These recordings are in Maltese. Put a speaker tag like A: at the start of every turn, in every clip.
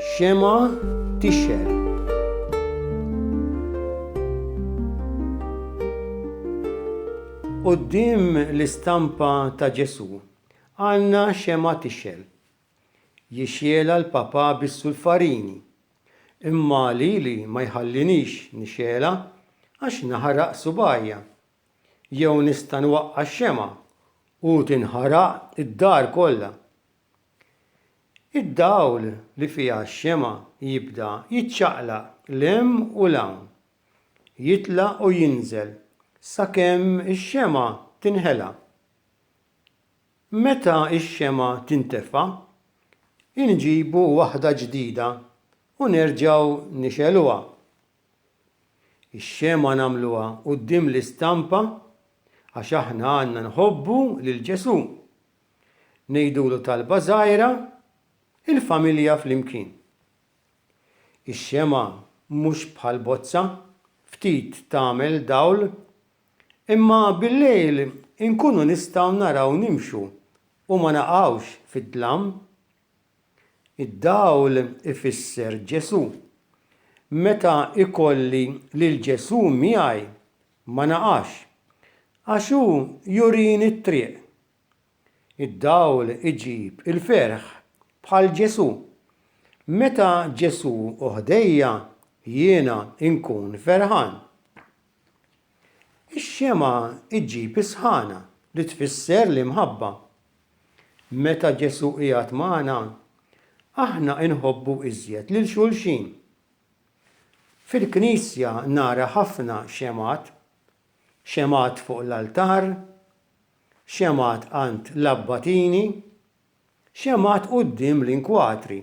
A: Xema tixxer. Qoddim l-istampa ta' Ġesu għandna xema tixxel. Jixxiela l-Papa bis-sulfarini, imma lili ma jħallinix nixxiela għax naħraq subgħajja. Jew nista' nwaqqa' x-xemgħa u tinħaraq id-dar kollha. Id-dawl li fiha x-xemgħa jibda jiċċaqlaq 'l hemm u 'l hawn, jitla' u jinżel sakemm ix-xemgħa tinħela. Meta x-xemgħa tintefa', inġibu waħda ġdida u nerġgħu nixegħluha. Ix-xemgħa nagħmluha quddiem l-istampa għax aħna għandna nħobbu lil Ġesù. Ngħidulu talba żgħira, Il-familja flimkien. Ix-xemgħa mhux bħal bozza, ftit tagħmel dawl, imma billejl inkunu nistgħu naraw nimxu u ma naqgħux fid-dlam. Id-dawl ifisser Ġesù. Meta ikolli lil Ġesù miegħi, ma naqax, għax hu jurini t-triq. Id-dawl iġib il-ferħ bħal Ġesù. Meta Ġesù hu ħdejja, jiena nkun ferħan. Ix-xemgħa ġġib is-sħana, li tfisser l-imħabba. Meta Ġesù qiegħed magħna, aħna inħobbu iżjed lil xulxin. Fil-Knisja nara ħafna xemgħat, xemgħat fuq l-altar, xemgħat għand l-abbatini, xemgħat quddiem l-inkwadri.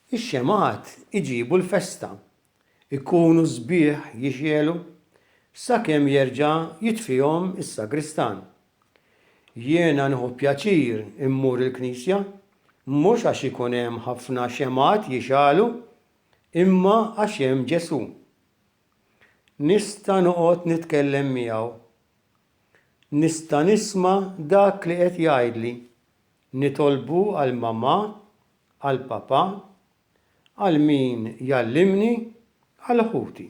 A: Ix-xemgħat iġibu l-festa. Ikunu sbieħ jixegħlu sakemm jerġa' jitfihom is-sagristan. Jiena nieħu pjaċir immur il-knisja, mhux għax ikun hemm ħafna xemgħat jixgħalu imma għax hemm Ġesù. Nista' noqgħod nitkellem miegħu. Nista' nisma' dak li qed jgħidli. Nitolbu għal mamà, għal papà, għal min jgħallimni, għal ħuti.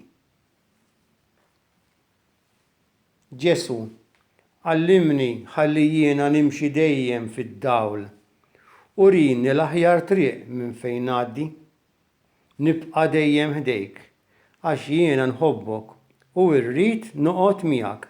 A: Ġesù, għallimni ħalli jiena nimxi dejjem fid-dawl. Urini l-aħjar triq minn fejn ngħaddi. Nibqa' dejjem ħdejk, għax jiena nħobbok u rrid noqgħod miegħek.